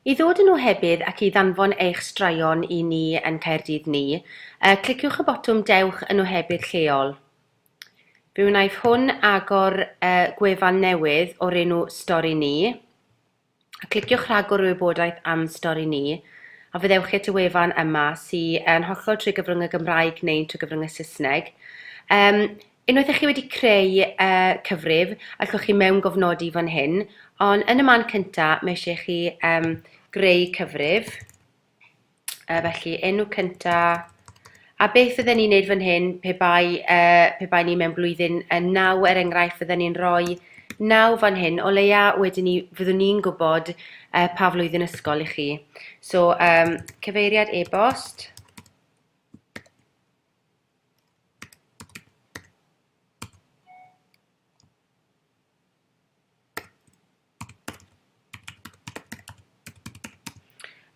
I ddod yn ohebydd ac i ddanfon eich straeon i ni yn Caerdydd Ni, yy cliciwch y botwm Dewch yn Ohebydd Lleol. Fe wnaiff hwn agor yy gwefan newydd o'r enw Stori Ni. Cliciwch Rhagor i wybodaeth am Stori Ni a fyddewch chi at y wefan yma sy yn hollol trwy gyfrwng y Gymraeg neu'n trwy gyfrwng y Saesneg. Yym Unwaith ych chi wedi creu y cyfrif, allwch chi mewn gofnodi fan hyn, ond yn y man cynta, mae eisiau chi um, greu cyfrif. Uh, felly, enw cynta, a beth fydden ni'n neud fan hyn pe bai, uh, pe bai ni mewn blwyddyn uh, naw, er enghraifft, fydden ni'n rhoi naw fan hyn, o leia wedyn ni, fyddwn ni'n gwybod uh, pa flwyddyn ysgol i chi. So, um, cyfeiriad e-bost,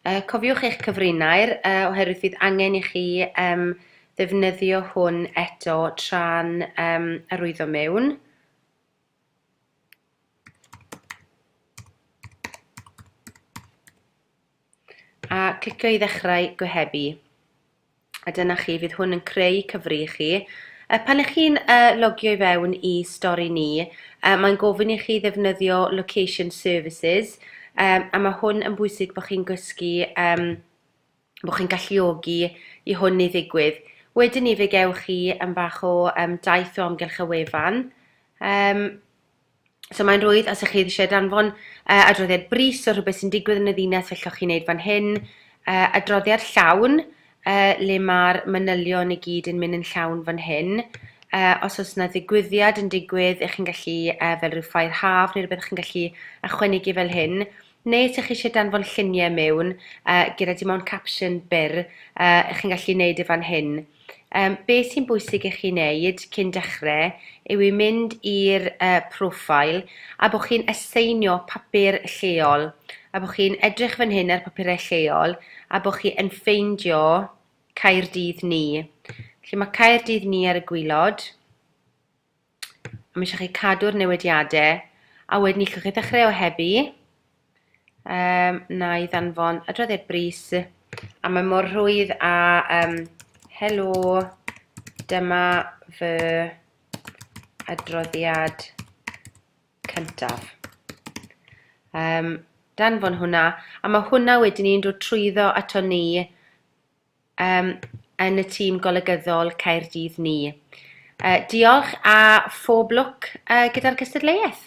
Uh, cofiwch eich cyfrinair uh, oherwydd fydd angen i chi um, ddefnyddio hwn eto tra'n um, arwyddo mewn. a clicio i ddechrau gohebu. A dyna chi, fydd hwn yn creu cyfri i chi. Uh, pan ych chi'n uh, logio i fewn i stori ni, uh, mae'n gofyn i chi ddefnyddio location services, um, a mae hwn yn bwysig bod chi'n gysgu, um, bod chi'n galluogi i hwn i ddigwydd. Wedyn ni fe gewch chi yn fach o um, daith o amgylch y wefan, um, So mae'n rwydd os ych chi eisiau danfon uh, adroddiad bris o rhywbeth sy'n digwydd yn y ddinas fel chi'n neud fan hyn, uh, adroddiad llawn uh, le mae'r manylion i gyd yn mynd yn llawn fan hyn. Uh, os oes yna ddigwyddiad yn digwydd, ych chi'n gallu, uh, fel rhyw ffair haf neu rhywbeth, ych chi'n gallu ychwanegu fel hyn. Neu os ych chi eisiau danfon lluniau mewn uh, gyda dim ond capsiwn byr, uh, ych chi'n gallu neud e fan hyn. Yym, be sy'n bwysig i chi wneud cyn dechre yw i mynd i'r yy profile a bo chi'n aseinio papur lleol a bo chi'n edrych fan hyn ar papurau lleol a bo chi yn ffeindio Caerdydd ni. Felly ma' Caerdydd ni ar y gwilod. A mae eisiau chi cadw'r newidiadau. A wedyn ni chi'n dechrau o heddi. Um, na i ddanfon adroddiad bris. A mae mor rhwydd a um, helo, dyma fy adroddiad cyntaf. Um, danfon hwnna. A mae hwnna wedyn ni'n dod trwyddo ato ni yym yn y tîm golygyddol Caerdydd ni. Yy diolch a phob lwc yy gyda'r cystadleuaeth.